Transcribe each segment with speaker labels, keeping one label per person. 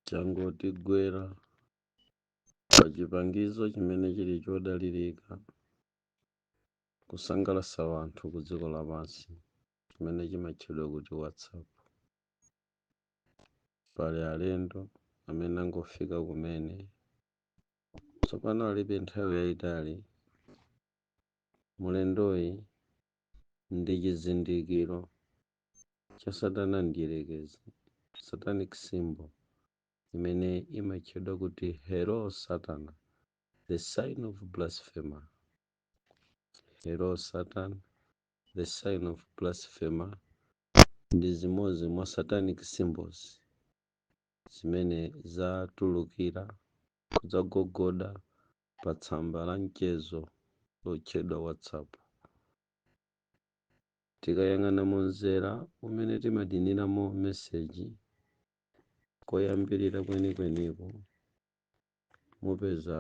Speaker 1: chongotigwera pa chipangizo chimene chili chodalirika kusangalatsa wanthu ku dziko lapansi chimene chimatchedwa kuti whatsapp pali alendo amene angofika kumene tsopano alibe nthawi yayitali mulendoyi ndi chizindikiro cha Satana Mdyerekezi, satanic symbol, imene imatchedwa kuti Hail Satan, the sign of blasphemer. Hail Satan, the sign of blasphemer, ndi zimodzi mwa satanic symbols zimene zatulukira kudzagogoda pa tsamba la mchezo lotchedwa WhatsApp. Tikayang'ana mu mzera umene timadiniramo meseji koyambirira kwenikweniko, mupeza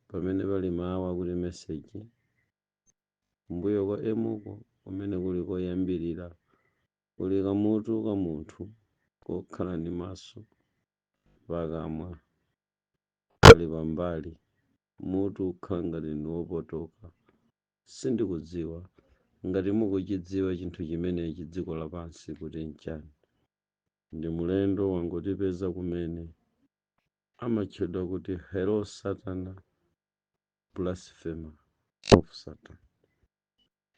Speaker 1: pamene pali mawu akuti meseji. Kumbuyo kwa M ko, kumene kuli koyambirira, kuli kamutu ka munthu kokhala ndi maso, pakamwa pali pambali, mutu ukhala ngati ndi wopotoka. Sindikudziwa ngati mukuchidziwa chinthu chimenechi dziko lapansi kuti nchani. Ndi mulendo wangotipeza kumene. Amatchedwa kuti Hail Satan blasphemer of Satan.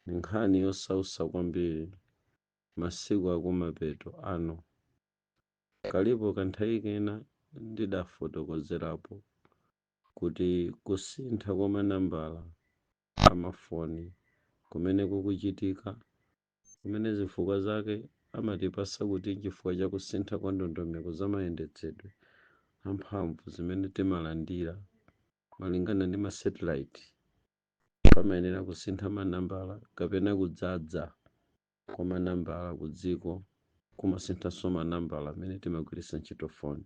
Speaker 1: Ndi nkhani yosautsa kwambiri masiku akumapeto ano. Kalipo kanthawi kena ndidafotokozerapo kuti kusintha kwa manambala a mafoni kumene kukuchitika, kumene zifukwa zake amatipatsa kuti n'chifukwa cha kusintha kwa ndondomeko za mayendetsedwe a mphamvu zimene timalandira malingana ndi masatellite, pamayenera kusintha manambala kapena kudzadza kwa manambala ku dziko kumasinthanso manambala amene timagwiritsa ntchito foni.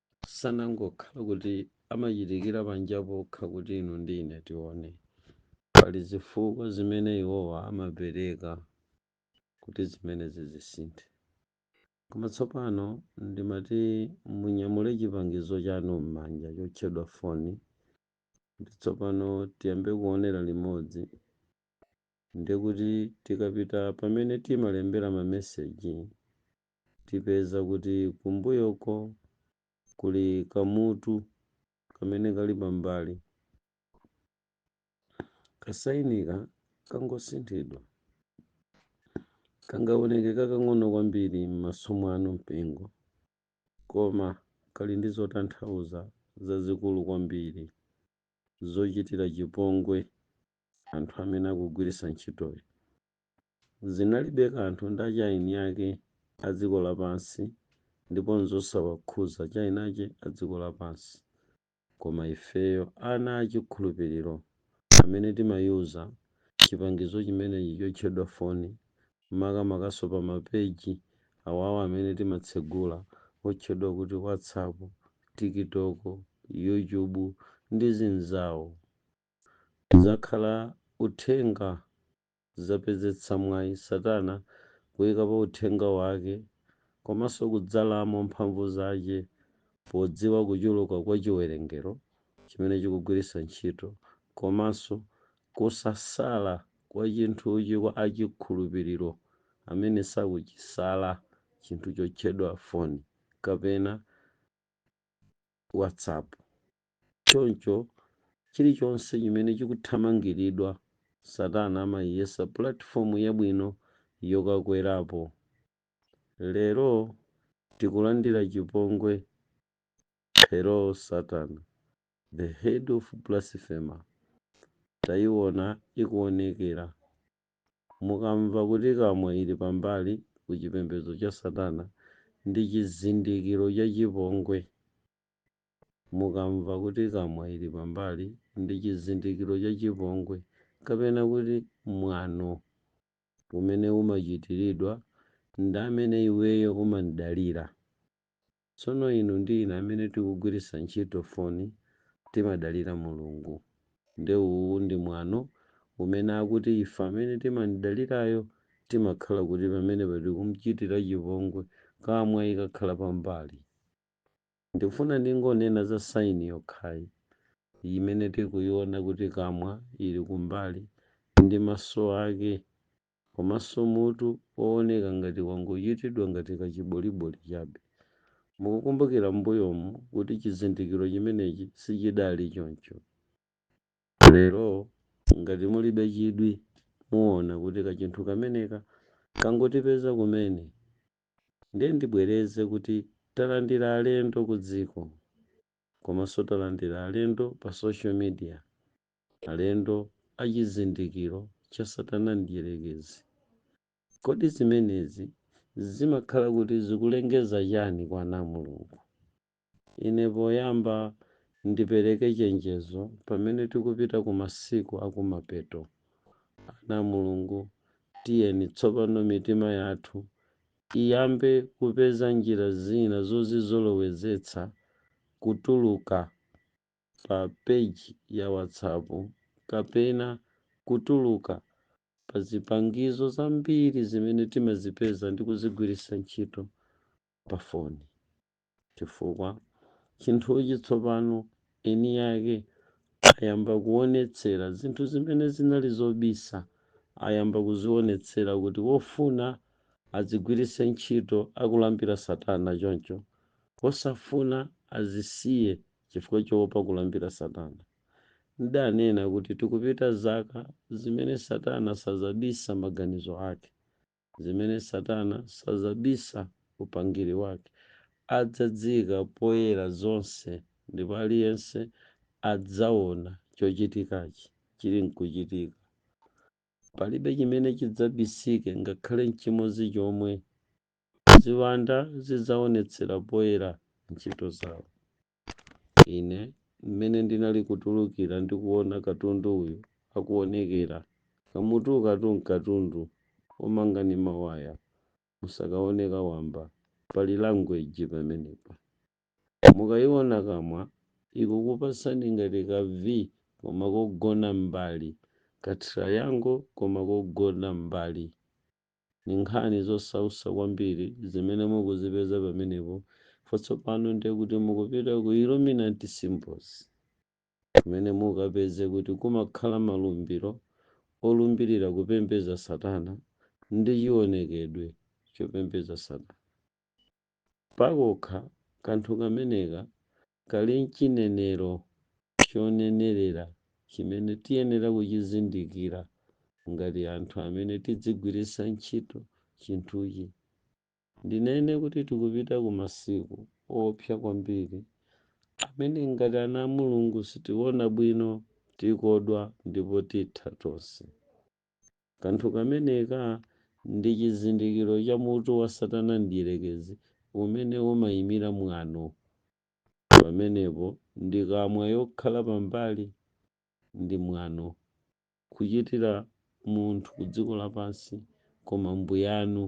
Speaker 1: sanangokhala kuti amachitikira panja pokha kuti inu ndi ine tione. Pali zifukwa zimene iwowa amapereka kuti zimenezi zizisintha. Koma tsopano ndimati munyamule chipangizo chanu m'manja chotchedwa foni ndi tsopano tiyambe kuonera limodzi. Ndiye kuti tikapita pamene timalembera mameseji tipeza kuti kumbuyoko kuli kamutu kamene kali pambali. Kasayinika kangosinthidwa. Kangawoneke kakang'ono kwambiri m'maso mwanu, mpingo, koma kali ndi zotanthauza zazikulu kwambiri zochitira chipongwe anthu amene akugwiritsa ntchitoyo. Zinalibe kanthu ndi a chayina ake a dziko lapansi, ndipo nzosawakhuza chayina ake a dziko lapansi, koma ifeyo ana a chikhulupiriro amene timayuza chipangizo chimenechi chotchedwa foni, makamakanso pa ma peji awawa amene timatsegula otchedwa kuti watsapu, tikitoko, yuchubu ndi zinzawo. Zakhala uthenga zapezetsa mwayi Satana kuyikapo uthenga wake komanso kudzalamo mphamvu zache podziwa kuchuluka kwa chiwerengero chimene chikugwiritsa ntchito komanso kusasala kwa chinthuchi kwa a chikhulupiriro amene sakuchisala chinthu chotchedwa foni kapena WhatsApp. Choncho, chilichonse chimene chikuthamangiridwa, Satana amaiyesa pulatifomu yabwino yokakwerapo. Lero, tikulandira chipongwe. Hello, Satan, the head of blasphemer, taiona ikuonekera. Mukamva kuti kamwa ili pambali ku chipembedzo cha Satana, ndi chizindikiro cha chipongwe. Mukamva kuti kamwa ili pambali, ndi chizindikiro cha chipongwe, kapena kuti mwano umene umachitiridwa ndi amene iweyo umamdalira. Tsono inu ndi ine amene tikugwiritsa ntchito foni timadalira Mulungu, nde uwu ndi mwano umene akuti ife amene timamdalirayo timakhala kuti pamenepa tikumchitira chipongwe, kamwa ikakhala pambali. Ndikufuna ndingonena za saini yokhayi imene tikuyiwona kuti kamwa ili kumbali ndi maso ake komanso mutu wowoneka ngati wangochitidwa ngati kachiboliboli chabe. Mukukumbukira m'mbuyomu kuti chizindikiro chimenechi sichidali choncho. Lero ngati mulibe chidwi muwona kuti kachinthu kameneka kangotipeza kumene Ndiye ndibwereze kuti talandira alendo ku dziko komanso talandira alendo pa social media, alendo a chizindikiro cha Satana Mdyerekezi. Kodi zimenezi zimakhala kuti zikulengeza chani kwa ana a Mulungu? Ine poyamba ndipereke chenjezo pamene tikupita ku masiku akumapeto. Ana a Mulungu, tiyeni tsopano mitima yathu iyambe kupeza njira zina zozizolowezetsa kutuluka pa peji ya WhatsApp kapena kutuluka pa zipangizo zambiri zimene timazipeza ndi kuzigwiritsa ntchito pa foni. chifukwa chinthuchi tsopano eni yake ayamba kuonetsera zinthu zimene zinali zobisa ayamba kuzionetsera kuti wofuna azigwiritse ntchito akulambira satana choncho wosafuna azisiye chifukwa choopa kulambira satana ndidanena kuti tikupita zaka zimene satana sazabisa maganizo ake zimene Satana sadzabisa upangiri wake, adzadziika poyera zonse ndipo aliyense adzaona chochitikachi chili nkuchitika. Palibe chimene chidzabisike ngakhale nchimodzi chomwe. Ziwanda zidzaonetsera poyera ntchito zawo. Ine, mmene ndinali kutulukira ndi kuona katundu uyu akuonekera, kamutukatu nkatundu womanga ndi mawaya, musakaone ka wamba. Pali language pamenepa. Mukayiona kamwa, ikukupatsani ngati ka V koma kogona mmbali, ka triangle koma kogona mmbali. Ndi nkhani zosausa kwambiri zimene mukuzipeza pamenepo chifukwa tsopano ndiye kuti mukupita ku Illuminati Symbols kumene mukapeze kuti kumakhala malumbiro olumbirira kupembeza satana ndi chionekedwe chopembeza satana. Pakokha kanthu kameneka kali n'chinenero chonenerera chimene tiyenera kuchizindikira ngati anthu amene tidzigwiritsa ntchito chinthuchi. Ndinene kuti tikupita ku masiku oopsa kwambiri amene ngati ana a Mulungu sitiona bwino, tikodwa ndipo titha tonse. Kanthu kameneka ndi chizindikiro cha mutu wa Satana Mdyerekezi, umene umaimira mwano. Pamenepo, ndi kamwa yokhala pambali ndi mwano, kuchitira munthu kudziko lapansi koma Mbuyanu,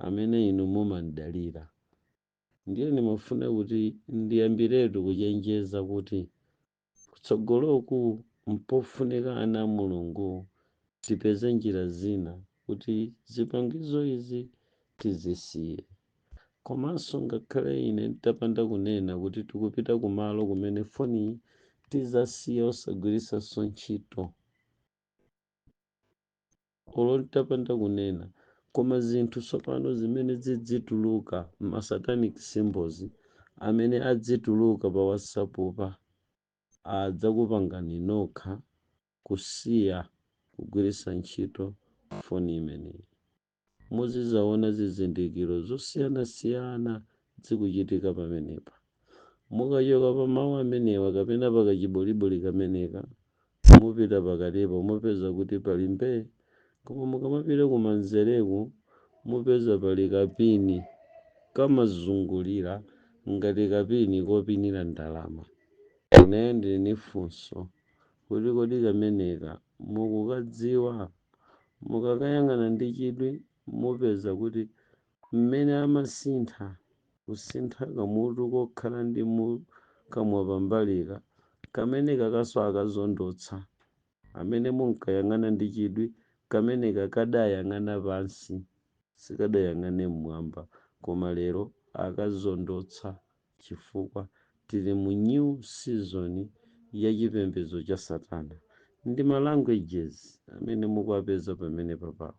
Speaker 1: amene inu mumamdalira. Ndiye ndimafuna kuti ndiyambiretu kuchenjeza kuti Kutsogoloku mpofunika ana a Mulungu tipeze njira zina kuti zipangizo izi tizisiye. Komanso ngakhale ine ntapanda kunena kuti tikupita kumalo kumene foni tizasiya osagwiritsanso ntchito. olo nditapanda kunena koma zinthu tsopano zimene zidzituluka ma satanic symbols amene adzituluka pa whatsapp'pa adzakupangani nokha kusiya kugwiritsa ntchito foni imeneyi. Muzidzaona zizindikiro zosiyanasiyana zikuchitika pamenepa. Mukachoka pa mawu amenewa kapena pa kachiboliboli kameneka, mupita pakatipo, mupeza kuti pali mbee. Koma mukamapita kumanzereku, mupeza pali kapini kamazungulira ngati kapini kopinira ndalama. Ineyo ndili ndi funso kuti kodi kameneka mukukadziwa? Mukakayang'ana ndi chidwi, mupeza kuti mmene amasintha, kusintha kamutu kokhala ndi mu kamwa pambalika, kamene kakanso akazondotsa, amene munkayang'ana ndi chidwi, kameneka kadayang'ana pansi, sikadayang'ane mmwamba, koma lero akazondotsa, chifukwa tili mu new season ya chipembedzo cha satana, ndi ma languages amene mukuwapeza pamenepa pawo,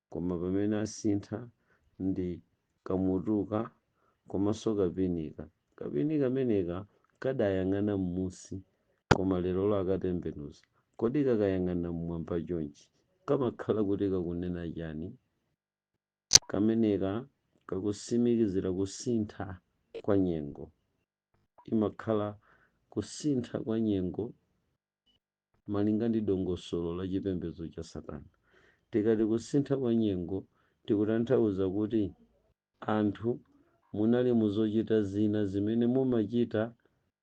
Speaker 1: Koma pamene asintha ndi kamutuka komanso kapinika. Kapini kameneka kadayang'ana m'munsi koma lerolo akatembenuza. Kodi kakayang'ana m'mwamba chonchi kamakhala kuti kakunena chani? Kameneka kakusimikizira kusintha kwa nyengo. Imakhala kusintha kwa nyengo. malinga ndi dongosolo la chipembedzo cha Satana. Tikati kusintha kwa nyengo tikutanthauza kuti anthu munali mu zochita zina zimene mumachita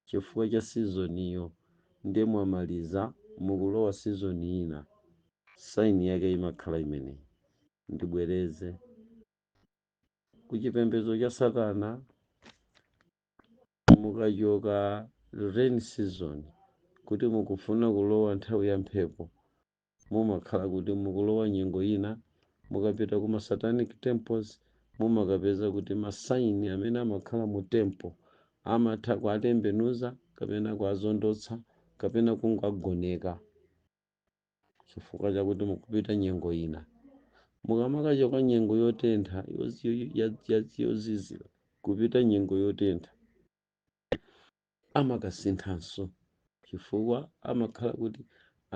Speaker 1: chifukwa cha sizoniyo ndiye mwamaliza mukulowa sizoni ina, sign yake imakhala imeneyi. Ndibwereze, ku chipembedzo cha Satana mukachoka rain season kuti mukufuna kulowa nthawi ya mphepo mumakhala kuti mukulowa nyengo ina mukapita ku ma satanic temples mumakapeza kuti ma sign amene amakhala mu temple amatha kuatembenuza kapena kuazondotsa kapena kungoagoneka chifukwa chakuti mukupita nyengo ina mukamakachoka nyengo yotentha yozizira kupita nyengo yotentha amakasinthanso chifukwa amakhala kuti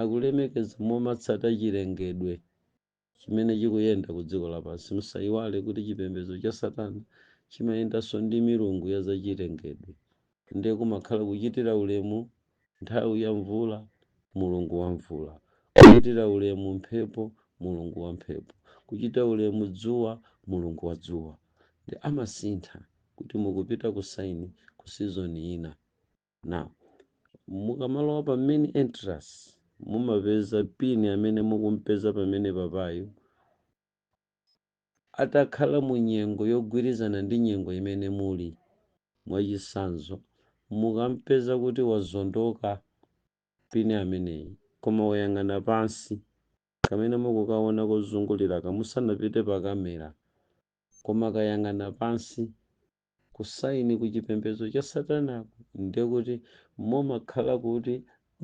Speaker 1: akulemekeza momatsata chilengedwe chimene chikuyenda ku dziko lapansi. Musaiwale kuti chipembedzo cha Satana chimayendanso ndi milungu ya zachilengedwe. Ndiye kumakhala kuchitira ulemu nthawi ya mvula mulungu wa mvula, kuchitira ulemu mphepo mulungu wa mphepo, kuchitira ulemu dzuwa mulungu wa dzuwa. Nde amasintha kuti mukupita ku saini ku sizoni ina. now mukamalowa pa main entrance mumapeza pin amene mukumpeza pamene papayo atakhala mu nyengo yogwirizana ndi nyengo imene muli mwachisanzo mukampeza kuti wazondoka pini ameneyi koma wayang'ana pansi kamene mukukaona kozunguliraka musanapite pa kamera koma kayang'ana pansi ku sign ku chipembedzo cha satanaku ndiye kuti mumakhala kuti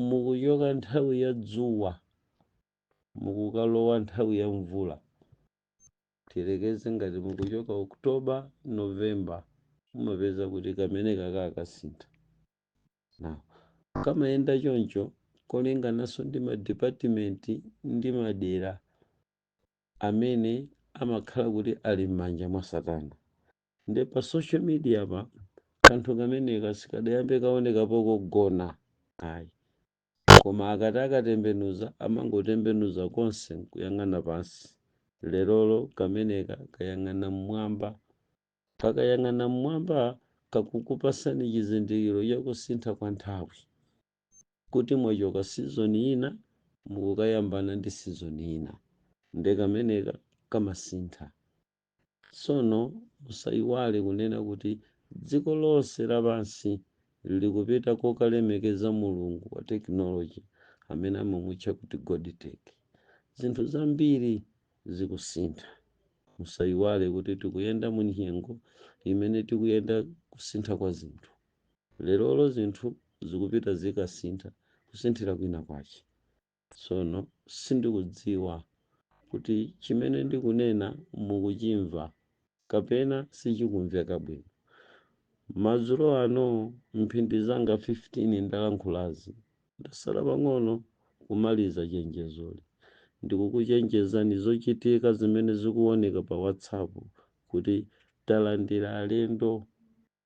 Speaker 1: mukuchoka nthawi ya dzuwa mukukalowa nthawi ya mvula tiyerekeze ngati mukuchoka oktoba novemba mumapeza kuti kamenekaka akasintha now kamayenda choncho kolingananso ndi madipatimenti ndi madera amene amakhala kuti ali m'manja mwa satana nde pa social mediapa kanthu kameneka sikadayambe kaonekapo kogonaka ayi koma akati akatembenuza amangotembenuza konse nkuyang'ana pansi lerolo kameneka kayang'ana mmwamba kakayang'ana mmwamba kakukupasani chizindikiro chakusintha kwa nthawi kuti mwachoka sizoni ina mukukayambana ndi sizoni ina nde kameneka kamasintha Tsono musaiwale kunena kuti dziko lonse lapansi likupita kokalemekeza mulungu wa tekinoloje amene amamutcha kuti Godtech. Zinthu zambiri zikusintha. Musaiwale kuti tikuyenda munyengo imene tikuyenda kusintha kwa zinthu. Lerolo zinthu zikupita zikasintha, kusinthira kwina kwache. Tsono sindikudziwa kuti chimene ndikunena mukuchimva kapena sichikumveka bwino. Madzulo ano, m'mphindi zanga 15 ndalankhulazi, ndatsala pang'ono kumaliza chenjezoli. Ndikukuchenjezani zochitika zimene zikuoneka pa WhatsApp kuti talandira alendo.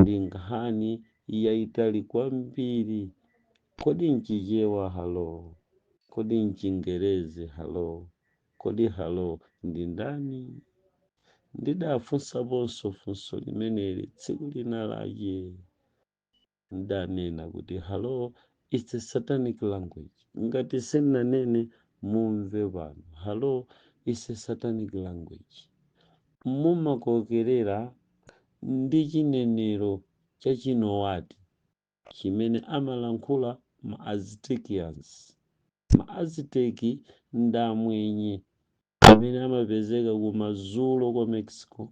Speaker 1: ndi nkhani yaitali kwambiri. Kodi nChichewa halo? Kodi nChingerezi halo? Kodi halo ndi ndani? Ndidafunsaponso funso limeneli tsiku lina lache. Ndidanena kuti halo Is a satanic language. Ngati sinanene mumve pano. Halo is a satanic language. Mumakokerera ndi chinenero cha Chinowati chimene amalankhula ma Aztecians. Ma Azteki ndi amwenye amene amapezeka kumadzulo kwa Mexico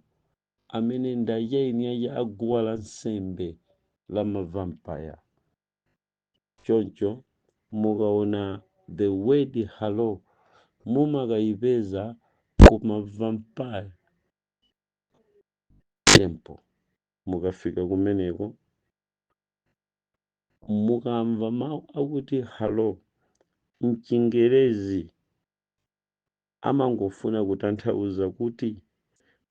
Speaker 1: amene ndi eni ake a guwa la nsembe la ma vampire. choncho mukaona the word halo mumakayipeza kuma vampire temple mukafika kumeneko mukamva mawu akuti halo mchingerezi amangofuna kutanthauza kuti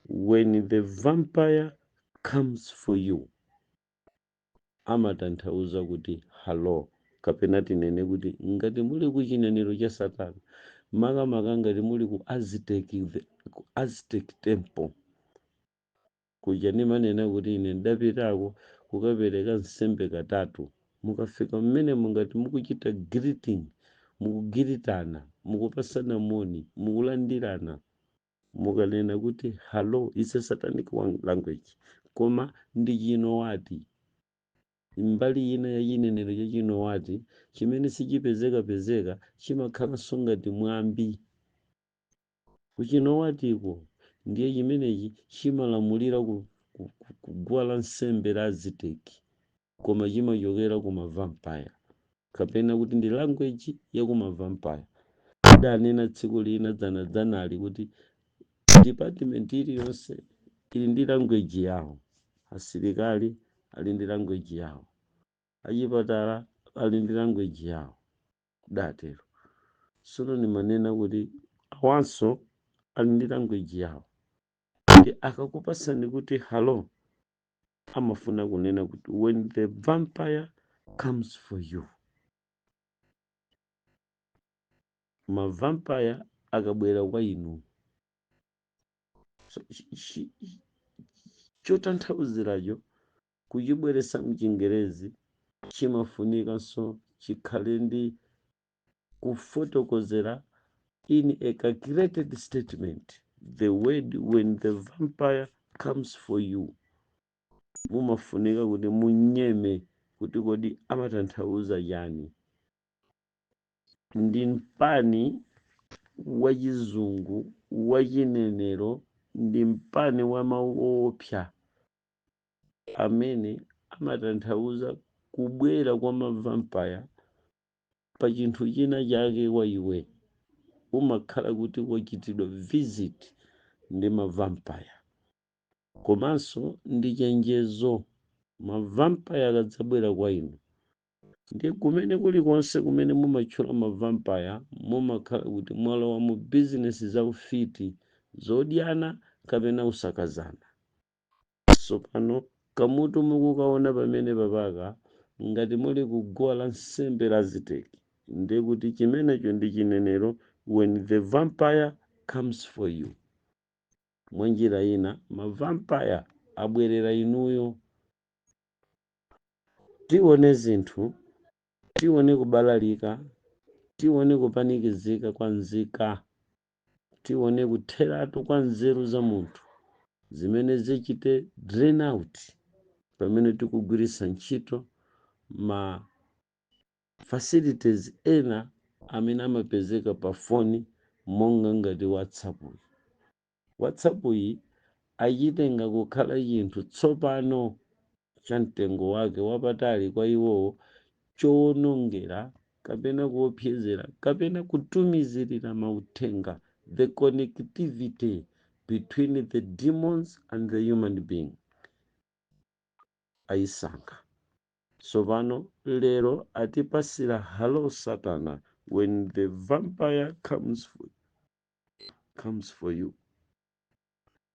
Speaker 1: when the vampire comes for you amatanthauza kuti Halo! Kapena tinene kuti ngati muli ku chinenero cha Satana, makamaka ngati muli ku, ku Aztec temple kuja ndimanena kuti ine ndapitako kukapereka nsembe katatu. Mukafika mmenemo ngati mukuchita greeting, mukugiritana, mukupasana moni, mukulandirana, mukanena kuti halo is a satanic language koma ndi chinowati mbali ina ya chinenero cha chinowati chimene sichipezekapezeka chimakhalanso ngati mwambi kuchinowatiko ndiye chimenechi chimalamulira ku guwa la nsembe la aziteki koma chimachokera ku ma vampire kapena kuti ndi language ya ku ma vampire ndidanena tsiku lina dzanadzanali kuti department iliyonse ili ndi language yawo asilikali ali ndi language yawo achipatala ali ndi language yawo ndidatero sono ndimanena kuti awanso ali ndi language yawo ndiye akakupasani kuti halo amafuna kunena kuti when the vampire comes for you mavampire akabwera kwa inu chotanthauziracho kuchibweretsa mchingerezi chimafunikanso chikhale ndi kufotokozera in a calculated statement the word when the vampire comes for you mumafunika kuti munyeme kuti kodi amatanthauza chani ndi mpani wachizungu wachinenero ndi mpani wa mawu oopsa amene amatanthauza kubwera kwa mavampaya pa chinthu china chake kwa iwe umakhala kuti wachitidwa visit ndi mavampaya komanso ndi chenjezo mavampaya akadzabwera kwa inu ndi kumene kulikonse kumene mumatchula mavampaya mumakhala kuti mwalowa mu bizinesi za ufiti zodyana kapena usakazana Tsopano kamutu mukukaona pamene papaka, ngati muli ku guwa la nsembe la Aziteki, ndiye kuti chimenecho ndi chinenero when the vampire comes for you. Mwa njira ina, ma vampire abwerera inuyo. Tione zinthu, tione kubalalika, tione kupanikizika kwa nzika tione kutheratu kwa nzeru za munthu zimene zichite drain out pamene tikugwiritsa ntchito ma facilities ena amene amapezeka pa foni monga ngati whatsapp iyi whatsapp iyi achitenga kukhala chinthu tsopano cha mtengo wake wapatali kwa iwowo chowonongera kapena kuopsezera kapena kutumizirira mauthenga the connectivity between the demons and the human being ayisankha tsopano lero atipasira halo satana when the vampire comes for you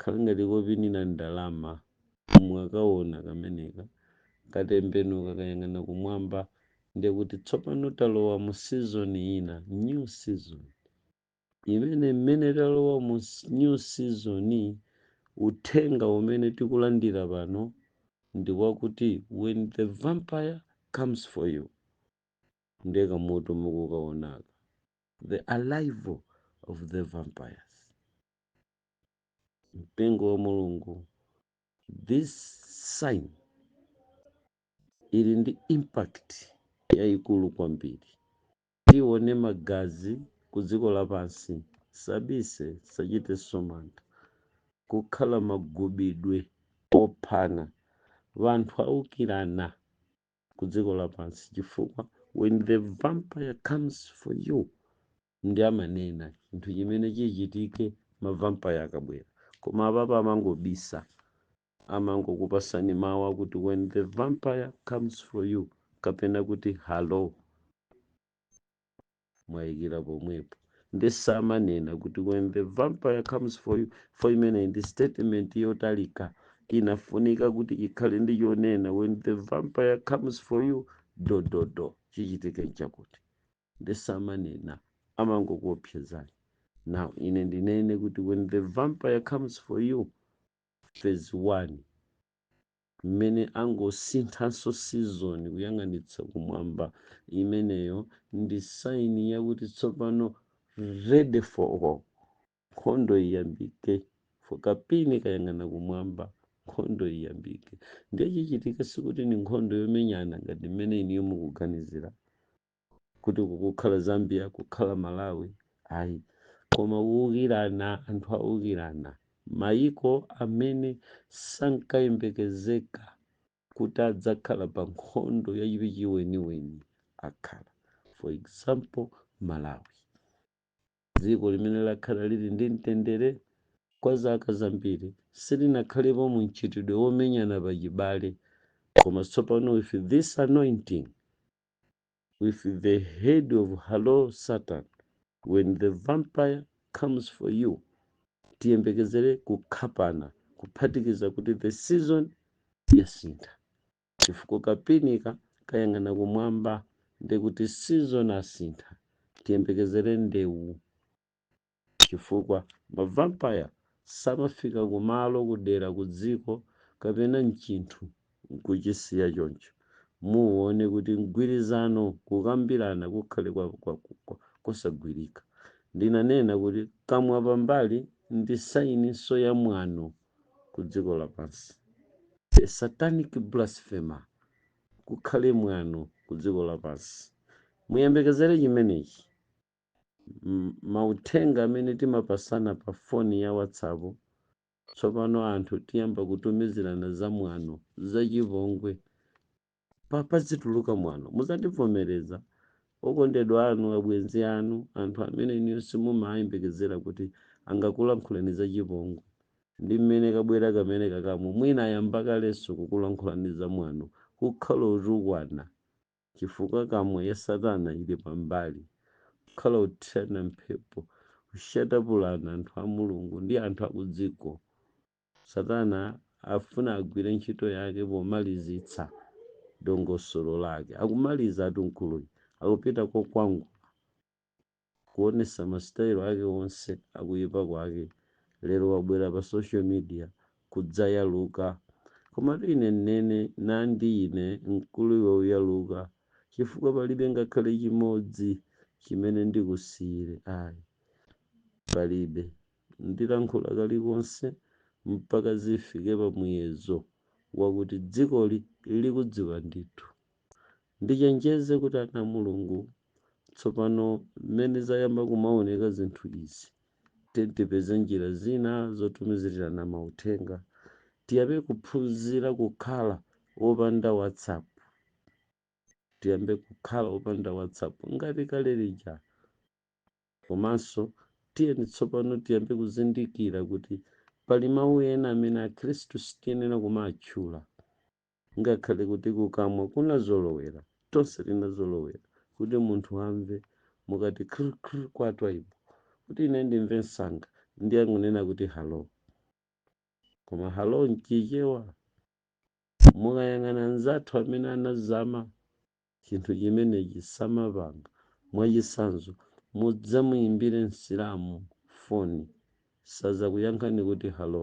Speaker 1: Khala ngati kopinira ndalama. Mwakawona kameneka, katembenuka kayang'ana kumwamba, ndiye kuti tsopano talowa mu season ina, new season. Imene mmene talowa mu new season, uthenga umene tikulandira pano ndi wakuti when the vampire comes for you, ndiye kamutu mukukawonaka, the arrival of the vampires. mpingo wa mulungu this sign ili ndi impact yayikulu kwambiri tione magazi ku dziko lapansi sabisa sachita zomanata kukhala magubidwe ophana anthu aukirana ku dziko lapansi chifukwa when the vampire comes for you nde amanena chinthu chimene chichitike ma vampire akabwera koma apapa amangobisa amangokupasani mawu akuti when the vampire comes for you kapena kuti hello mwayikira pomwepo nde samanena kuti when the vampire comes for you for imene ndi statement yotalika inafunika kuti ikhale ndi chonena when the vampire comes for you dododo chichitike nchakuti nde samanena amangokuopsezani now ine ndinene kuti when the vampire comes for you phase 1 mmene angosinthanso season kuyang'anitsa kumwamba imeneyo ndi saini yakuti tsopano ready for war nkhondo iyambike for kapini kayang'ana kumwamba nkhondo iyambike ndiye chichitika sikuti ndi nkhondo yomenyana ngati mmene inuyo mukuganizira kuti uku kukhala zambia uku kukhala malawi ayi koma kuukirana anthu aukirana mayiko amene sankayembekezeka kuti adzakhala pa nkhondo yachiweniweni akhala for example malawi dziko limene lakhala lili ndi mtendere kwa zaka zambiri silinakhalepo mu mchitidwe womenyana pachibale koma tsopano with this anointing with the head of hello Satan when the vampire comes for you tiyembekezere kukhapana kuphatikiza kuti the season yasintha chifukwa kapinika kayang'ana kumwamba ndekuti season asintha tiyembekezere ndewu Chifukwa, ma vampire samafika ku malo, ku dera, ku dziko, kapena mchinthu, nkuchisiya choncho. Muwuone kuti mgwirizano, kukambirana kukhale kwa, kwa, kwa, kosagwirika. Ndinanena kuti kamwa pambali ndi sayininso ya mwano ku dziko lapansi. A satanic blasphemer, kukhale mwano ku dziko lapansi. Muyembekezere chimenechi. mauthenga amene timapatsana pa foni ya WhatsApp, tsopano anthu tiyamba kutumizirana zamwano, zachipongwe. Pazituluka mwano. Muzandivomereza? Okondedwa anu, abwenzi anu, anthu amene inuyo simumayembekezera kuti angakulankhuleni zachipongwe. Ndi mmene kabwera kamene kakamu, mwina ayamba kalenso kukulankhulani zamwano, kukhala otukwana. chifukwa kamwa ya satana ili pambali kukhala othirana mphepo kushatapulana anthu a Mulungu ndi anthu akudziko. Satana afuna agwire ntchito yake pomalizitsa dongosolo lake. Akumalizatu mkuluyi, akupita kokwangula. kuonetsa masitayilo ake onse akuipa kwake lero wabwera pa social media kudzayaluka komatu ine nnene nandi ine mkulu iwe uyaluka chifukwa palibe ngakhale chimodzi chimene ndikusiyire ayi palibe ndilankhula kalikonse mpaka zifike pa muyezo wakuti dzikoli likudziwa ndithu. ndichenjeze kuti ana a mulungu tsopano mmene zayamba kumaoneka zinthu izi ti- tipeze njira zina zotumizirana mauthenga tiyambe kuphunzira kukhala opanda whatsapp tiyambe kukhala opanda whatsapp ngati kale lija komanso tiyeni tsopano tiyambe kuzindikira kuti pali mawu ena amene akhristu sitiyenera kumatchula Ngakhale kuti kukamwa kunazolowera, tonse tinazolowera, kuti munthu amve mukati kr kr kwa Twaibu, kuti ine ndimve msanga ndiye n'kunena kuti hallo. Koma hallo m'Chichewa, mukayang'ana anzathu amene anazama chinthu chimenechi samapanga. Mwachitsanzo, mudzamuimbire Msilamu foni, sadzakuyankhani kuti hallo.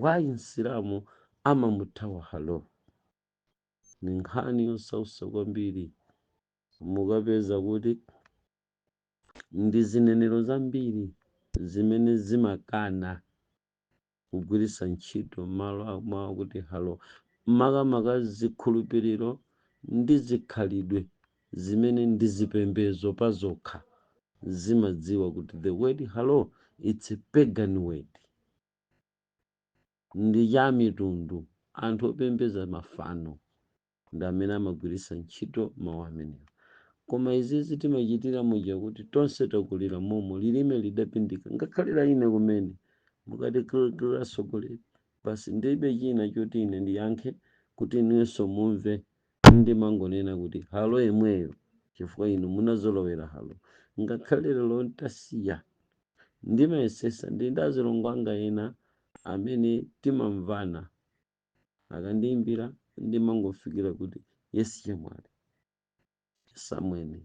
Speaker 1: Why Msilamu amamuthawa hallo? Ndi nkhani yosautsa kwambiri. Mukapeza kuti ndi zinenero zambiri zimene zimakana kugwiritsa ntchito mawu akuti hallo, makamaka zikhulupiriro ndi zikhalidwe zimene ndi zipembedzo pazokha zimadziwa kuti the word hallo it's a pagan word. ndi cha amitundu, anthu opembedza mafano, ndi amene amagwiritsa ntchito mawu amenewa. Koma izizi timachitira muja kuti tonse takulira momo, lilime lidapindika, ngakhale la ine kumene. Mukati kr kr atsogoleri, basi ndibe china choti ine ndiyankhe kuti inuyonso mumve, ndimangonena kuti halo yemweyo chifukwa inu munazolowera halo, ngakhale lero ntasiya Ndimayesesa ndi ndazilongo anga ena amene timamvana. Akandiimbira ndimangofikira kuti yes chemwali, yes amwene,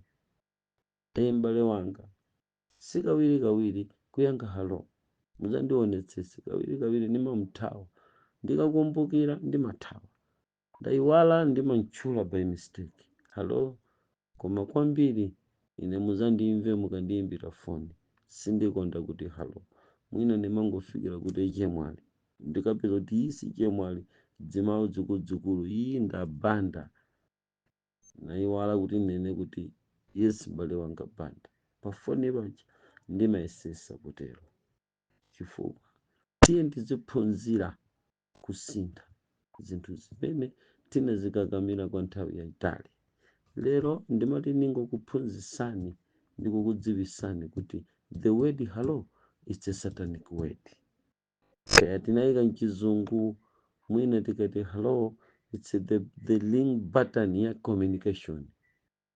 Speaker 1: ee m'bale wanga. Si kawirikawiri kuyankha hallo. Mudzandionetsetse, kawirikawiri ndimamuthawa. Ndikakumbukira ndimathawa. Ndaiwala ndimamtchula by mistake. Hallo koma kwambiri ine muzandimve mukandiimbira phone sindikonda kuti hallo mwina ndimangofikira kuti chemwali ndikapeza kuti iyi si chemwali dzimau dzukuludzukulu ii nda Banda naiwala kuti ndinene kuti yes m'bale wanga Banda pa phone paja ndimayesesa kutero chifukwa tiyeni tiziphunzira kusintha zinthu zimene tinazikakamira kwa nthawi yayitali. Lero ndimati ndingokuphunzitsani ndi kukudziwitsani kuti the word hello it's a satanic word. Kaya tinayika mchizungu mwina tikati hello it's the, the link button ya communication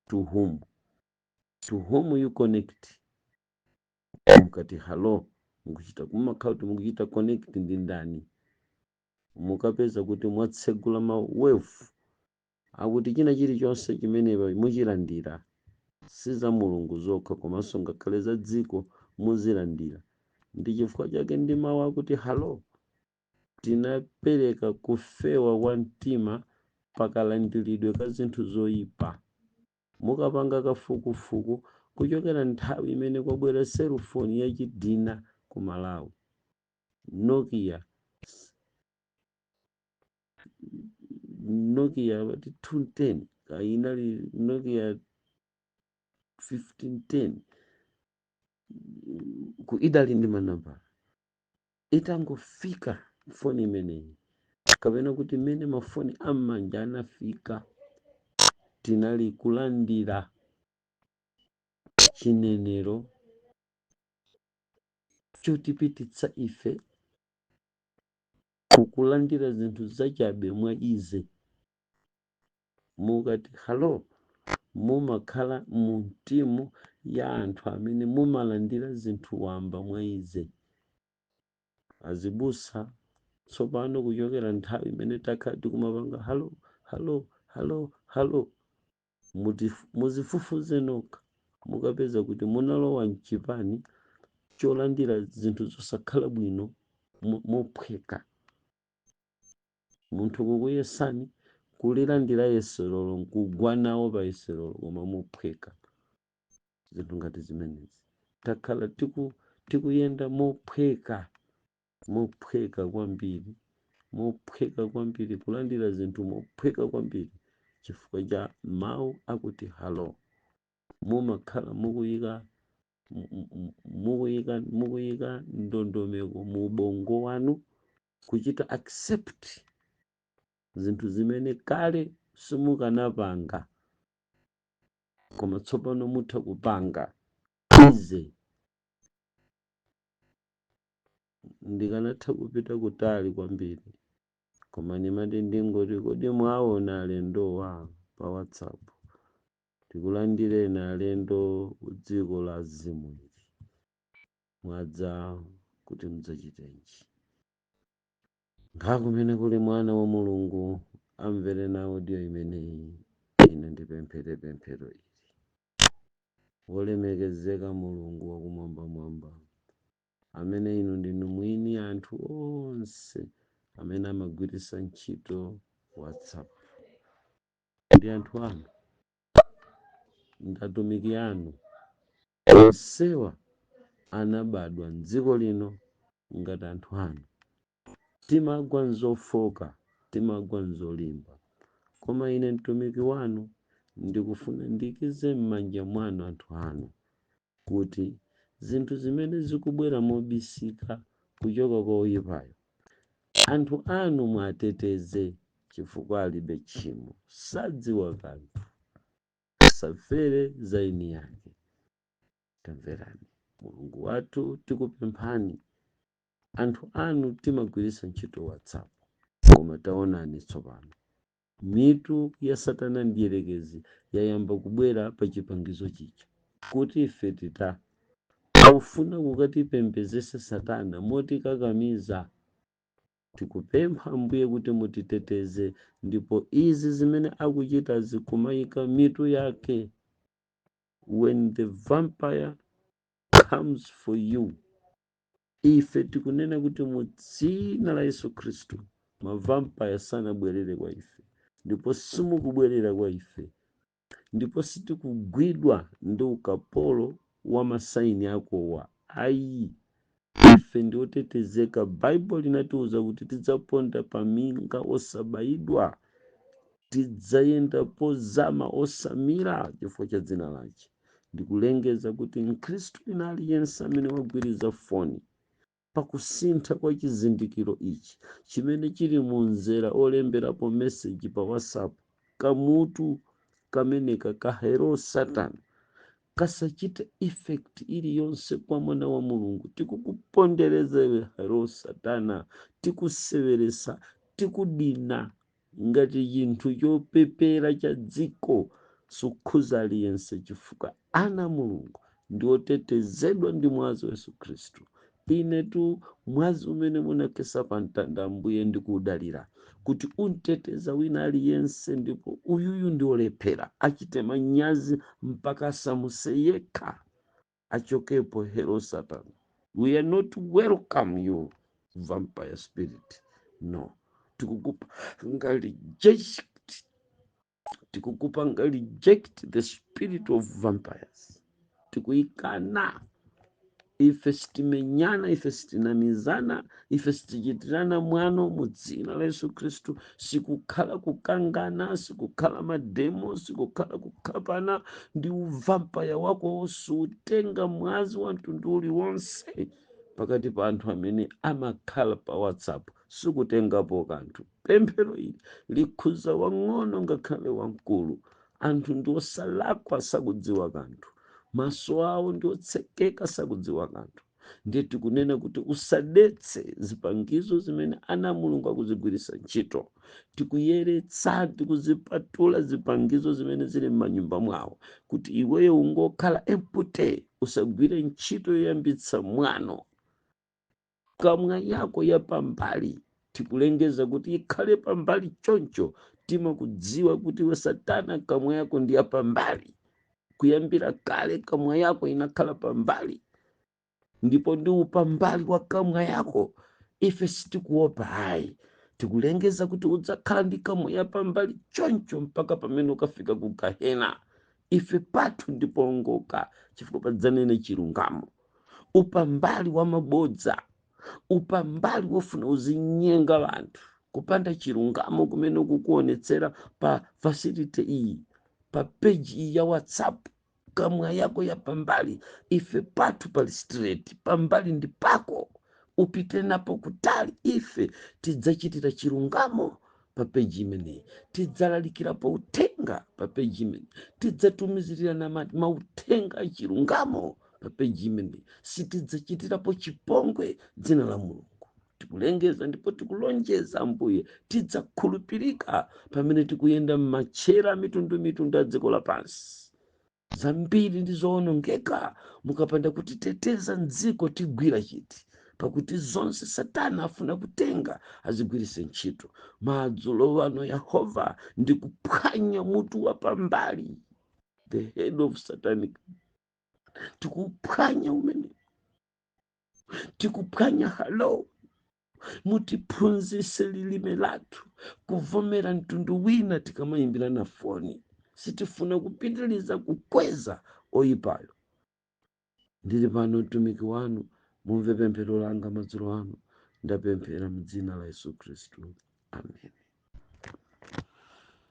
Speaker 1: to whom to whom you connect mukati halo mukuchita kumakhala kuti mukuchita connect ndi ndani mukapeza kuti mwatsegula ma wave akuti china chilichonse chimene pa- muchilandira si za mulungu zokha komanso ngakhale za dziko muzilandira ndi chifukwa chake ndi mawu akuti halo tinapereka kufewa kwa mtima pakalandiridwe ka zinthu zoyipa Mukapanga kafukufuku kuchokera nthawi imene kwabwera cellphone yachidina ku Malawi, Nokia, Nokia amati 210 kaya inali Nokia 1510 ku- idali ndi manambala. itangofika foni imeneyi kapena kuti mmene mafoni am'manja anafika tinali kulandira chinenero chotipititsa ife kukulandira zinthu zachabe mwa easy Mukati Hallo! mumakhala mu mtimu ya anthu amene mumalandira zinthu wamba mwa easy. Azibusa tsopano kuchokera nthawi imene takhala tikumapanga Hallo! Hallo! Hallo! Hallo! Muti, muzifufuze nokha. Mukapeza kuti munalowa mchipani cholandira zinthu zosakhala bwino mophweka. Munthu kukuyesani, kulilandira yeserolo nkugwa nawo pa yeserolo koma mophweka. Zinthu ngati zimenezi. Takhala tiku, tikuyenda mophweka, mophweka kwambiri, mophweka kwambiri, kulandira zinthu mophweka kwambiri chifukwa cha mawu akuti halo. Mumakhala mukuyika, mu, mu, mu, mukuyika, mukuyika ndondomeko mu ubongo wanu kuchita accept zinthu zimene kale simukanapanga koma tsopano mutha kupanga easy ndikanatha kupita kutali kwambiri koma ndimati ndingoti kodi mwaona alendowa pa whatsapp tikulandireni alendo kudziko la azimu ili mwadza kuti mudzachitenji nkha kumene kuli mwana wa mulungu amvere nawo audio imeneyi ine ndipemphere pemphero ili wolemekezeka mulungu wakumwambamwamba amene inu ndinu mwini anthu onse amene amagwiritsa ntchito whatsapp ndi anthu anu ndi atumiki anu. Onsewa anabadwa m'dziko lino ngati anthu anu. Timagwa m'zofooka, timagwa m'zolimba. Koma ine mtumiki wanu ndikufuna ndiikize m'manja mwanu anthu anu. kuti zinthu zimene zikubwera mobisika kuchoka kwa oyipayo, anthu anu muwateteze chifukwa alibe tchimo, sadziwa kanthu, asafere za eni ake. Tamverani, Mulungu wathu, tikupemphani, anthu anu timagwiritsa ntchito WhatsApp, koma taonani tsopano mitu ya satana mdierekezi yayamba kubwera pa chipangizo chija kuti ife tita akufuna kukatipembedzetsa satana motikakamiza tikupempha ambuye kuti mutiteteze ndipo izi zimene akuchitazi kumayika mitu yake when the vampire comes for you ife tikunena kuti mu dzina la yesu khristu mavampaya sanabwerere kwa ife ndipo simukubwerera kwa ife ndipo sitikugwidwa ndi ukapolo wa masaini akowa ayi ife ndi otetezeka baibulo linatiuza kuti tidzaponda pa minga osabayidwa tidzayenda pozama osamira chifukwa cha dzina lace ndikulengeza kuti mkhristu wina aliyense amene wagwiriza foni pakusintha kwa chizindikiro ichi chimene chili mu mzera olemberapo meseji pa whatsapp kamutu kameneka ka hero satana kasachite effect iliyonse kwa mwana wa mulungu tikukupondereza iwe hero satana tikuseweresa tikudina ngati chinthu chopepera cha dziko sukhuza aliyense chifukwa ana a mulungu ndi otetezedwa ndi mwazi wa yesu khristu inetu mwazi umene munakhetsa pa mtanda ambuye ndikuudalira kuti unteteza wina aliyense ndipo uyuyu ndi olephera achite manyazi mpaka asamuse yekha achokepo hero satan we are not welcome you vampire spirit no tikukupanga reject tikukupanga reject the spirit of vampires tikuyikana ife sitimenyana ife sitinamizana ife sitichitirana mwano mu dzina la yesu khristu sikukhala kukangana sikukhala mademo sikukhala kukhapana ndi uvampaya wakowo suutenga mwazi wa mtundu uliwonse pakati pa anthu amene amakhala pa whatsapp sikutengapo kanthu pemphero ili likhuza wang'ono ngakhale wamkulu anthu ndi osalakwa sakudziwa kanthu maso awo ndi otsekeka sakudziwa kanthu ndiye tikunena kuti usadetse zipangizo zimene ana a mulungu akuzigwiritsa ntchito tikuyeretsa tikuzipatula zipangizo zimene zili m'manyumba mwawo kuti iweyo ungokhala empty usagwire ntchito yoyambitsa mwano kamwa yako yapambali Tikulengeza kuti ikhale pambali choncho timakudziwa kuti iwe satana kamwa yako ndi yapambali kuyambira kale kamwa yako inakhala pambali ndipo ndi upambali wa kamwa yako ife sitikuopa ayi tikulengeza kuti udzakhala ndi kamwa yapambali choncho mpaka pamene ukafika ku gahena ife pathu ndipowongoka chifukwa padzanene chilungamo upambali wa mabodza upambali wofuna uzinyenga wanthu kupanda chilungamo kumene ukukuonetsera pa facility iyi pa page iyi ya whatsapp kamwa yako ya pambali ife pathu pali straight pambali ndi pako upite napo kutali ife tidzachitira chilungamo pa peji imeneyi tidzalalikirapo uthenga pa peji imeneyi tidzatumizirana mauthenga achilungamo pa peji imeneyi sitidzachitirapo chipongwe dzina la mulungu tikulengeza ndipo tikulonjeza ambuye tidzakhulupirika pamene tikuyenda m'matchera a mitundu mitundu a dziko lapansi Zambiri ndi zoonongeka mukapanda kutiteteza mdziko tigwila chiti pakuti zonse satana afuna kutenga azigwilise ntchito. Madzulo ano Yehova ndikuphwanya mutu wa pambali the head of satanic tikuphwanya umene tikuphwanya halo mutiphunzise lilime lathu kuvomera mtundu wina tikamayimbirana foni sitifuna kupitiliza kukweza oyipayo ndili pano mtumiki wanu mumve pemphero langa madzulo ano ndapemphera m'dzina la yesu khristu amen